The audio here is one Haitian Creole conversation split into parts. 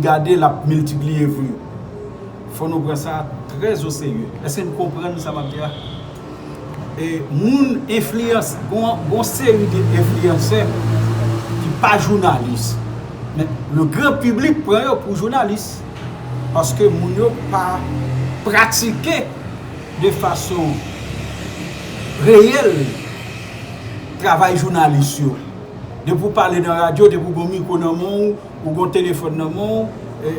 Gade l ap miltipliye vre. Fò nou pran sa trè o serye. Èske n konprann sa m ap di a? E moun enfliyans, gon seri de enfliyansè ki pa jounalis. Men le gran piblik pran yo pou jounalis. Paske moun yo pa pratike de fason reyèl travay jounalis yo. Depi w pale nan radyo, depi w gen yon mikwo nan men w. Ou gon telefòn nan men w,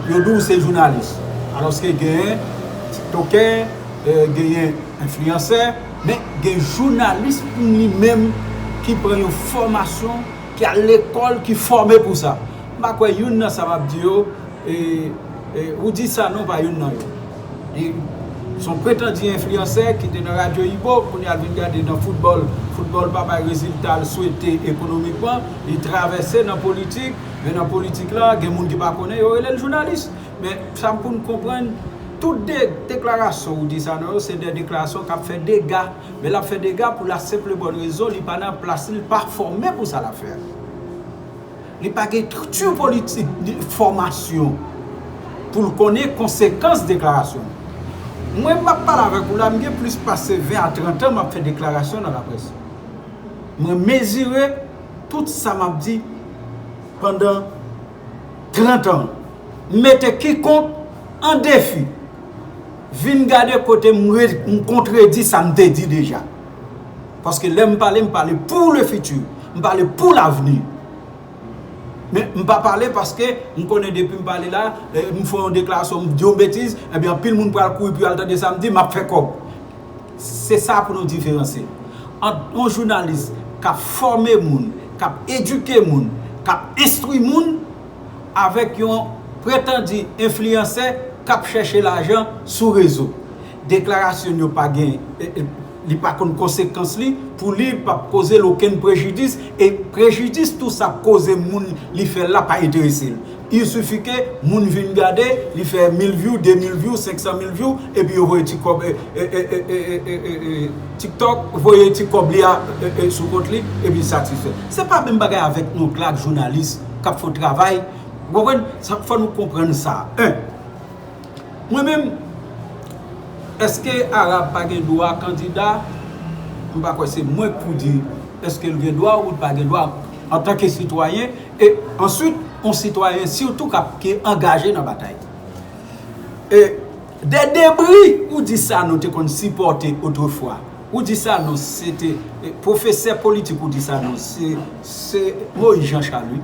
yo di w se jounalis. Alòske gen tiktokè, genyen enfliyansè, men gen jounalis pou li menm ki pran yon fòmasyon, ki al lekòl, ki fòme pou sa. M pa kwè youn nan sa m ap di yo, ou di sa non pa youn nan yo. Li son pretandi enfliyansè ki te nan radyo Ibo, kounye a l vin gade nan foutbòl, foutbòl pa bay rezilta l swete ekonomikman, li travèse nan politik, men nan politik la gen moun ki pa konnen yo rele l jounalis. Men sa m pou n konprann, tout de deklarasyon ou di sa nan yo se de deklarasyon k ap fè dega, men l ap fè dega pou la senp e bòn rezon li pa nan plas li, li pa fòme pou sa l ap fè a. Li pa gen estrikti politik ni fòmasyon pou l konnen konsekans deklarasyon l. Mwen m ap pale avèk ou la, m gen plis pase 20 a 30 an m ap fè deklarasyon nan laprès. Mwen mezire tout sa m ap di pandan 30 an. M mete kikonk an defi vin gade kote m kontredi sa m te di deja. Paske lè m pale, m pale pou le futur. M pale pou lavni. Men, m pa pale paske m konnen depi m pale la, m fè yon deklarasyon, m di yon betiz, enben anpil moun pral kouri pou y al tande sa m di, m ap fè kòb. Se sa pou nou diferansye ant yon jounalis k ap fòme moun, k ap edike moun, k ap enstwi moun avèk yon pretandi enfliyansè k ap chèche lajan sou rezo. Deklarasyonn yo pa gen li pa konn konsekans li pou li pap koze l okenn prejidis e prejidis tou sa koze moun li fè l la pa enterese l il suffit ke moun vin gade li fè mil vyou de mil vyou senk san mil vyou epi yo voye ti kòb tiktok voye ti kòb li a sou kont li epi l satisfè se pa menm bagay avèk yon glak jounalis kap fon travay ou konprann fò nou konprann sa 1. Mwen menm eske Arab pa gen dwa kandida m pa kwè se mwen k pou di eske l gen dwa ou l pa gen dwa antanke sitwayen e answit yon sitwayen sitou k ap ki angaje nan batay e de debri ou di Sanon te konn sipòte otrefwa ou di Sanon se te pwofesè politik ou di Sanon se Moyiz Janchal wi.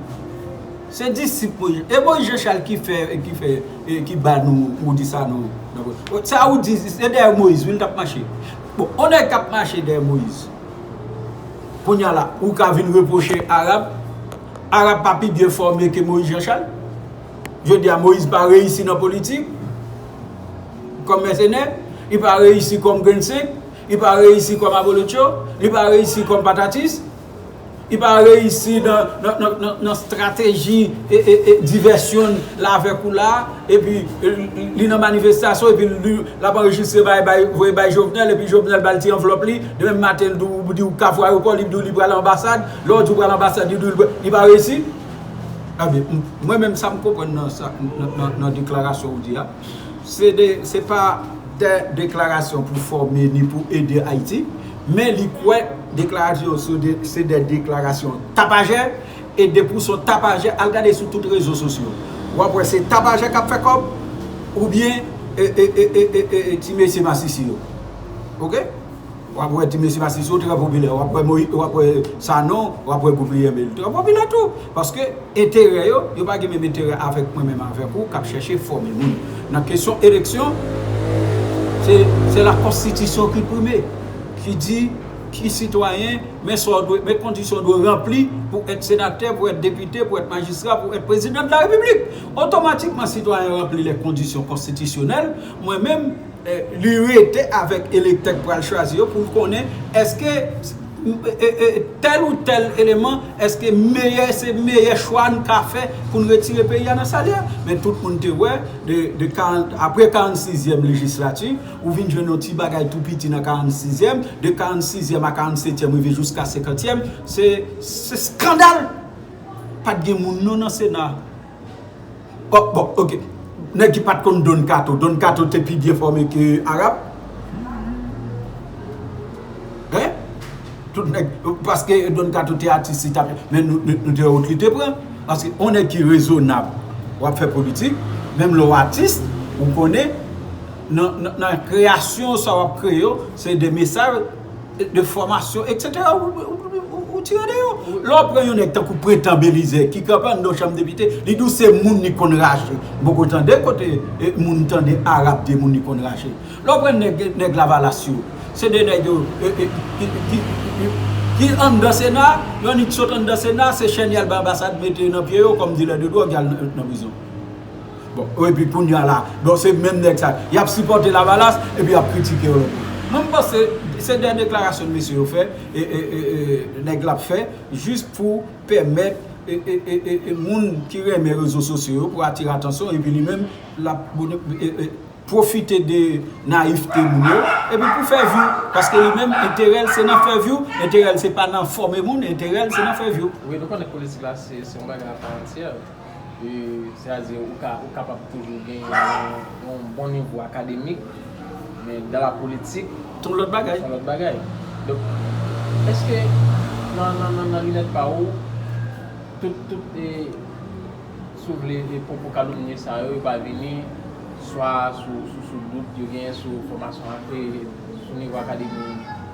Se disip mwen ye. E bon Jean Charles ki fè ki fè ki ba nou moudi sa nou nan sa ou di se dèyè moïse wi li tap mache bon on nèg kap mache dèyè moïse kounya la ou ka vin repwoche arab arab pa pi byen fòme ke moïse Jean Charles jodi a moïse pa reyisi nan politik kòm mèsenè li pa reyisi kòm grenn senk li pa reyisi kòm abolotcho li pa reyisi kòm patatis Li pa reyisi nan strateji divèsyon l la avèk ou la, epi li nan manifestasyon epi l ap anrejistre bagay voye bay Jovenel epi Jovenel ba l ti anvlòp li, demen maten l di w kafou ayopò li di w li pral anbasad, lè w di w pral anbasad li di w li pa reyisi? Mwen menm sa m konprann nan deklarasyon w di a. se pa tè deklarasyon pou fòme ni pou ede Ayiti, men li kwè deklarasyon yo se de deklarasyon tapajè, e depi w son tapajè, al gade sou tout rezo sosyo, w ap wè se tapajè k ap fè kòb, oubyen ti mesye masisi yo. Ok. Wap wè ti mesye masisi yo trè popilè wap wè moyiz wap wè sanon wap wè gouven yèm yo trè popilè tou paske enterè yo yo pa gen menm enterè avèk mwen menm avèk ou kap chèche fòme moun nan kesyon eleksyon se la konstitisyon ki prime ki di ki sitwayen men sa w dwe men kondisyon w dwe ranpli pou èt senatè pou èt depite pou èt majistra pou èt prezidan de la repiblik otomatikman sitwayen ranpli lè kondisyon konstitisyonèl mwen menm Li rete avèk elektè k pral chwazi yo pou l konnen èske tèl ou tèl eleman, èske meyè se meyè chwa n ka fè pou n retire peyi a nan sa l ye a. Men tout moun te wè apre 46 zyèm lejislati, ou vin jwenn yon ti bagay tou piti nan 46 zyèm, de 46 zyèm a 47 tyèm rive jiska 50 tyèm, se skandal! Pat gen moun non nan sena. Oh bon ok nèg ki pat konn Don kato Don kato te pi byen fòme ke Arab hein tout nèg paske Don kato te atis li tap men nou te wè wout li te pran paske yon nèg ki rezonab wap fè politik menm lè w atis ou konnen nan kreyasyon sa wap kreye yo se de mesaj de fòmasyon etc ou tire de yo lè w pran yon nèg tankou pretan belize ki kanpe anndan yon chanm depite li di w se moun li konn rache m poko tande kote moun tande arab di moun li konn rache lè w pran nèg lavalas yo se de nèg yo ki anndan sena yo annik sot anndan sena se chèn y al bay anbasad mete nan pye yo kòm dilè de dwòg y al nan prizon. Bon epi kounya la bon se menm nèg sa yo yap sipòte lavalas epi yap kritike yo lankò. Mwen m panse se de deklarasyon mesye yo fè nèg la ap fè jis pou pèmèt moun ki renmen rezo sosyo yo pou atire atansyon epi li menm lap pwofite de nayivte moun yo epi pou fè vyou paske li menm enterè l se nan fè vyou enterè l se pa nan fòme moun enterè l se nan fè vyou. Wi nou konnen politik la se yon bagay a pa antyè. Se ta di ou ka ou kapab toujou gen yon bon nivo akademik men dan la politik son lòt bagay. Son lòt bagay. Donk eske nan linèt pa ou tout tout e si w vle e pwopo kalomnye sa yo yo pa vini swa sou dout yo genyen sou fòmasyon ak e sou nivo akademi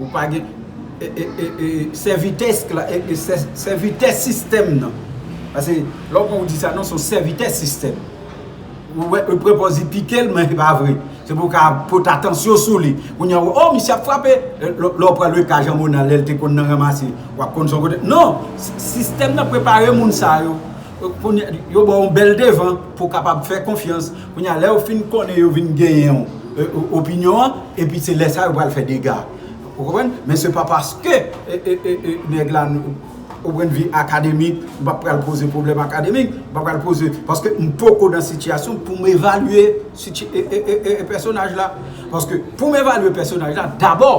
Ou pa gen sèvitè sistèm nan. Pase lè w pran ou di sa non se yon sèvitè sistèm. Ou wè e prepozit pike l men se pa vre. Se pou w ka pot atansyon sou li. Kounye a ou oh misye ap frape. Lè w pran le ka Jean Monard lè l te konn nan ranmase w ap konn son kote. Non! Sistèm nan prepare moun sa yo. Yo ba w yon bèl devan pou w kapab fè konfyans. Kounye a, lè yo fin konnen yo vin genyen yon opinyon an, epi se lè sa yo pral fè dega. Ou konprann? Men se pa paske nèg la, o pwend vi akademik, m pa pral poze pwoblèm akademik, m pa pral poze, paske m poko nan sitiyasyon pou m evalye pèsonaj la. Paske pou m evalye pèsonaj la, dabò,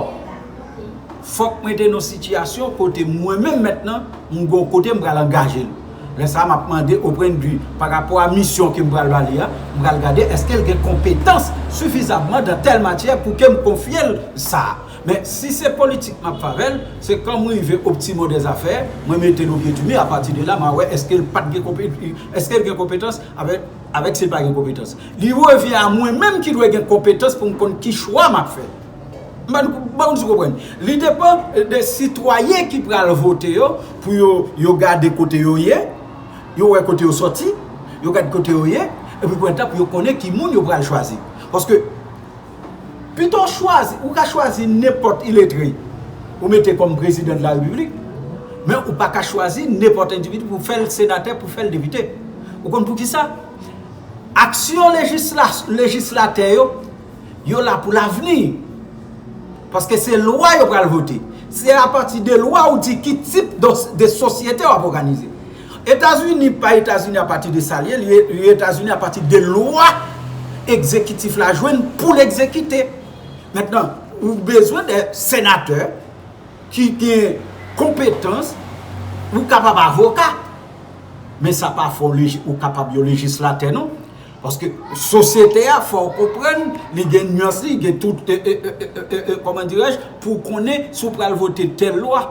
fòk mwen te nan yon sitiyasyon kote mwen menm mèt lan, m gen yon kote m pral angaje l. Lè sa a, m ap mande Oprendue, pa rapò a misyon ke m pral ba li a, m pral gade èske l gen konpetans sifizamman dan tèl matyè pou ke m konfye l sa a. Men, si se politik m ap fè avè l, se kan m rive optimo dè zafè, mwen mete l o pye di mi, apati de la, m a wè èske l pa t gen konpe, èske l gen konpetans avè, avèk si l pa gen konpetans. Li revyen a mwen menm ki dwe gen konpetans pou m konn ki chwa m ap fè. Li depan de sitwayen ki pral vote yo pou yo gade kote yo ye, yo wè kote yo soti, yo gade kote yo ye, epi pou etap yo konnen ki moun yo pral chwazi. Paske, pito chwazi, ou ka chwazi nenpòt iletre ou mete kòm prezidan de la repiblik, men ou pa ka chwazi nenpòt endividi pou fè l senatè, pou fè l depite. Ou konn pou ki sa? Aksyon lejislatè yo Yo la pou lavni. Paske se lwa yo pral vote. Se apati de lwa ou di ki tip de sosyete wap oganize. Etazini pa Etazini apati de sa li ye. Li ye Etazini apati de lwa ekzekitif la jwenn pou l ekzekite. Mentnan, ou bezwen de senatè ki gen konpetans. Ou kapab avoka. Men sa pa fè ou kapab yon lejislatè non. Paske sosyete a fòw konprann li gen nuans li gen tout kòman dirèj pou konnen si w pral vote tèl lwa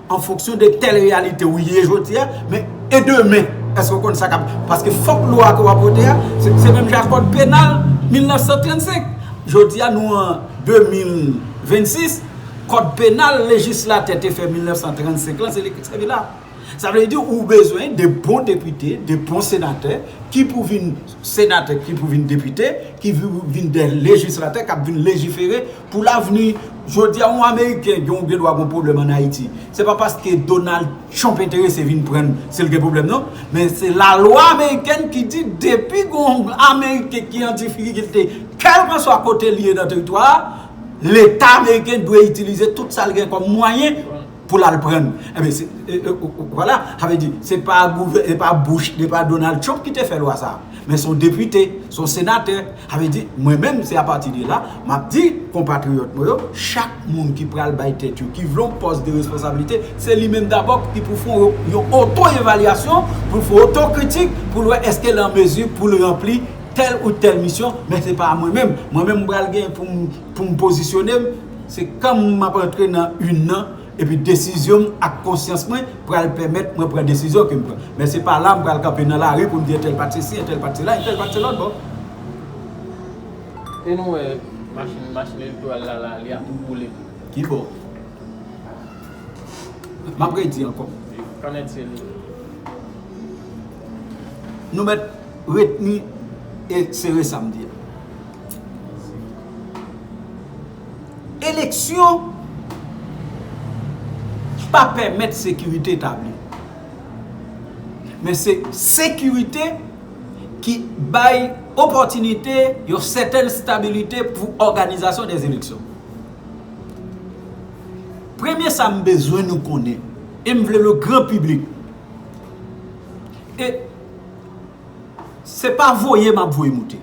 an fonksyon de tèl reyalite ou ye jodia men e demen èske w konn sa kap paske fòk lwa ke wap vote a se menm jan ak kòd penal 1935 jodia nou an 2026 kòd penal lejislatè te fè 1935 lan se li ki sèvi la. Sa vle di ou bezwen 2 bon depite, 2 bon senatè ki pou vin senatè, ki pou vin depite, ki pou vin 2 lejislatè k ap vin lejifere pou lavni. Jodi a yon ameriken gen gen dwa gen yon pwoblèm ann Ayiti, se pa paske Donald Trump enterese vin pran l se l gen pwoblèm non, men se lalwa amerikèn ki di depi gen yon ameriken ki an difikilte kèlkanswa kote l ye nan teritwa a, leta ameriken dwe itilize tout sa l gen kòm mwayen. pou lal prann enben se vwala sa vle di se pa gouvè epa bouch se pa donal trump ki te fè lwa sa men son depite son senatè sa vle di mwen menm se apati de la map di konpatriyòt mwen yo chak moun ki pral bay tèt yo ki vle yon pòs de responsablite se li menm dabò ki pou fè yon oto evalyasyon poul fè oto kritik poul wè eske l an mezi poul ranpli tèl ou tèl misyon men se pa mwen menm mwen menm m pral gen poum Pou m pozisyone m, se kan m ap antre nan yn nan, epi desizyon m ak konsyans mwen pral pèmèt mwen pran desizyon ke m pran. Men se pa la m pral kanpe nan lari pou m di entèl pa t sesi, entèl pa t sela, entèl pa t se lòtbò. E nou wè machin, machin elektoral la la, li ap tou boule tou. Ki bò? M ap redi ankò. Kan èd se li? Nou mèt retni e sere sa m di a. Eleksyon pa pèmèt sekirite tabli. Men se sekirite ki bay opòtinite yon sètèn stabilite pou òganizasyon dè eleksyon. Premye sa m bezwen nou konnen, e m vle le gran piblik, e se pa voye m ap voye moute.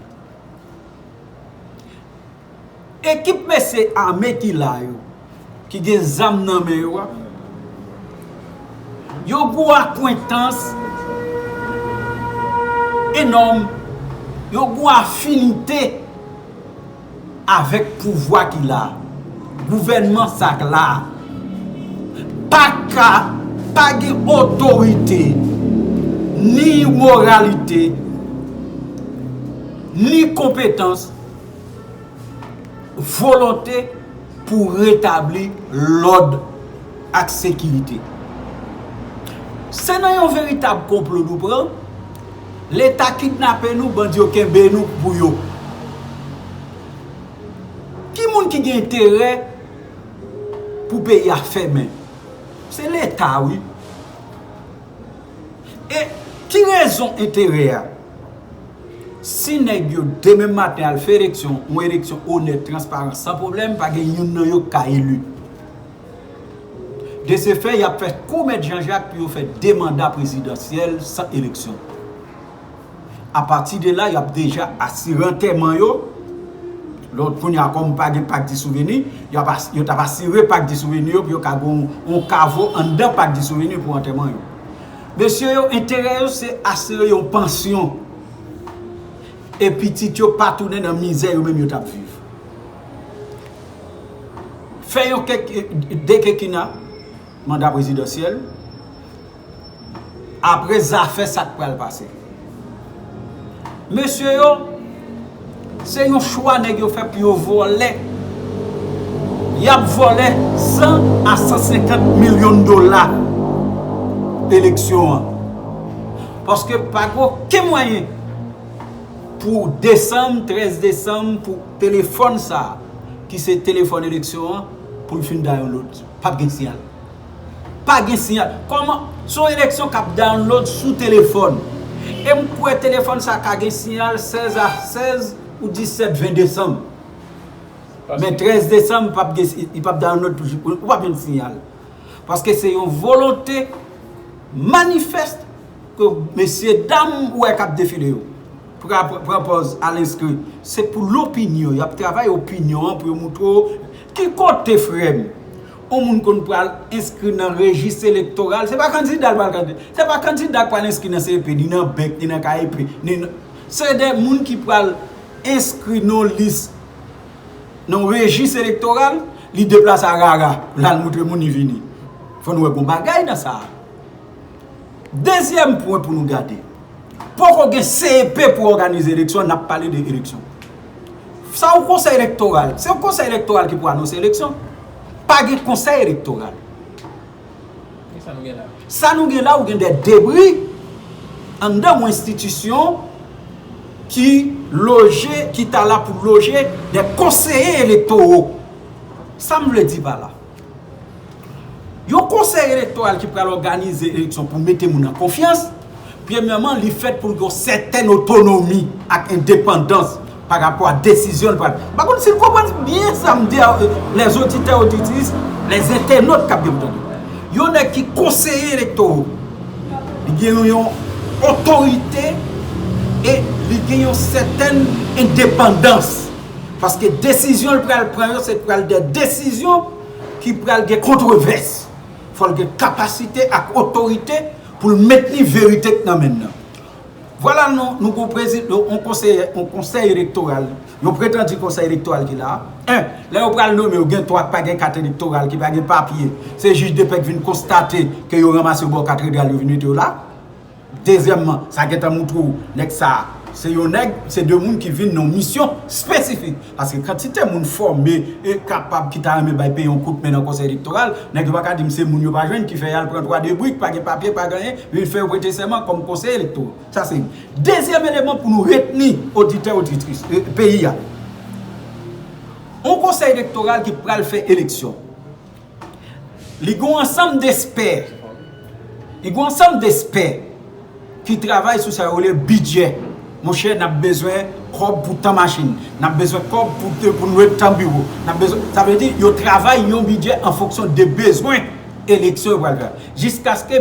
Ekip mesye ame ki la yo, ki gen zam nan men yo a, yo gou akwentans enòm, yo gou afinite avèk pouvwa ki la a. Gouvènman sa k la a pa ka pa gen otorite, ni moralite, ni konpetans, volonte pou retabli lòd ak sekirite. Se nan yon veritab konplo nou pran, Leta kidnape nou, bandi yo kenbe nou pou yo. Ki moun ki gen enterè pou peyi a fèmen? Se leta wi. E ki rezon enterè a? Si nèg yo demen maten al fè eleksyon, yon eleksyon onèt, transparan, san pwoblèm, pa gen youn nan yo ki ka eli. De se fè, y ap fè kou mèt Janjak pou yo fè 2 manda prezidansyèl san eleksyon. Apati de la, y ap deja asire antèman yo. Lò kounye a, kòm pa gen Pak di Souveni, yo t ap asire Pak di Souveni yo pou yo ka gen yon kavo anndan Pak di Souveni pou antèman yo. Mesye yo, enterè yo se asire yon pansyon e pitit yo pa tounen nan mizè yo menm yo t ap viv. Fè yon kekina, manda prezidansyèl. Apre zafè sak pral pase. Mesye yo se yon chwa nèg yo fè pou yo vòlè. Yap vòlè 100 a 150 milyon dola eleksyon an. Paske pa gen oken mwayen pou desanm 13 desanm pou telefòn sa ki se telefòn eleksyon an pou l fin da yon lòt. Pap gen siyal. Pa gen siyal. Kòman? Se yon eleksyon k ap download sou telefòn. E m kwè telefòn sa ka gen siyal 16 a 16 ou 17, 20 desanm. Men 13 desanm li p ap gen siyal. Li p ap download toujou. Ou p ap jwenn siyal. Paske se yon volonte manifèst ke mesye dam ou wè k ap defile yo. Pran pòz al enskri. Se pou lopinyon. Y ap travay opinyon an pou yo montre w. Ki kote frè m? On moun konn pral enskri nan rejis elektoral, se pa kandida l pral kandida. Se pa kandida k pral enskri nan CEP, ni nan BEC, ni nan KEP, ni nan. Se de moun ki pral enskri nan yon lis, nan yon rejis elektoral, li deplase arara pou l al montre moun li vini. Fò nou wè gen yon bagay nan sa a. Dezyèm pwen pou nou gade, poko gen CEP pou òganize eleksyon, nap pale de eleksyon. Sa yon konsèy elektoral, se yon konsèy elektoral ki pou anonse eleksyon, pa gen konsèy elektoral. Sa nou gen la ou gen de debri anndan yon enstitisyon ki loje, ki ta la pou loje de konseye elektoro. Sa m vle di pa la. Yon konsèy elektoral ki pral òganize eleksyon pou mete moun an konfyans, premyèman li fèt pou l gen yon sètèn otonomi ak endepandans pa rapò a desizyon l pral. M pa konn si n konprann byen sa m di a, les auditeurs auditrices, les internautes k ap gen pou tande. Yon nèg ki konseye elektoro, li gen yon otorite e li gen yon sètèn endepandans. Paske desizyon l pral pran yo se pral de desizyon ki pral gen kontrevès. Fò l gen kapasite ak otorite pou l mentni verite k nan men l lan. Vwala nou nou gon prezi yon konseye yon konsèy elektoral yon pretandi konsèy elektoral ki la a. 1, Lè yo pral nome yo gen 3 k pa gen kat elektoral ki pa gen papye. Se jij depè k vin konstate ke yo ranmase yo ba yo kat redral yo vin mete yo la. Dezyèmman, sa gentan moutre w nèg sa a se yon nèg, se de moun ki vin nan yon misyon espesifik. Paske kantite moun fòme e kapab ki ta renmen bay peyi yon kout men nan konsèy elektoral, nèg yo pa ka di m se moun yo pa jwenn ki fè y al pran twa de brik, pa gen papye, pa gen anyen, vin fè yo prete sèman kòm konsèy elektoral. Sa se youn. Dezyèm eleman pou nou retni oditè, oditris, peyi a. Yon konsèy elektoral ki pral fè eleksyon. Li gen yon ansanm despè, li gen yon ansanm despè ki travay sou sa yo rele bidjè. Monchè, n ap bezwen kòb pou tan machin, n ap bezwen kòb pou n lwe tan biwo, n ap bezwen, sa vle di yo travay yon bidjè an fonksyon de bezwen eleksyon yo pral fè a. Jiskaske.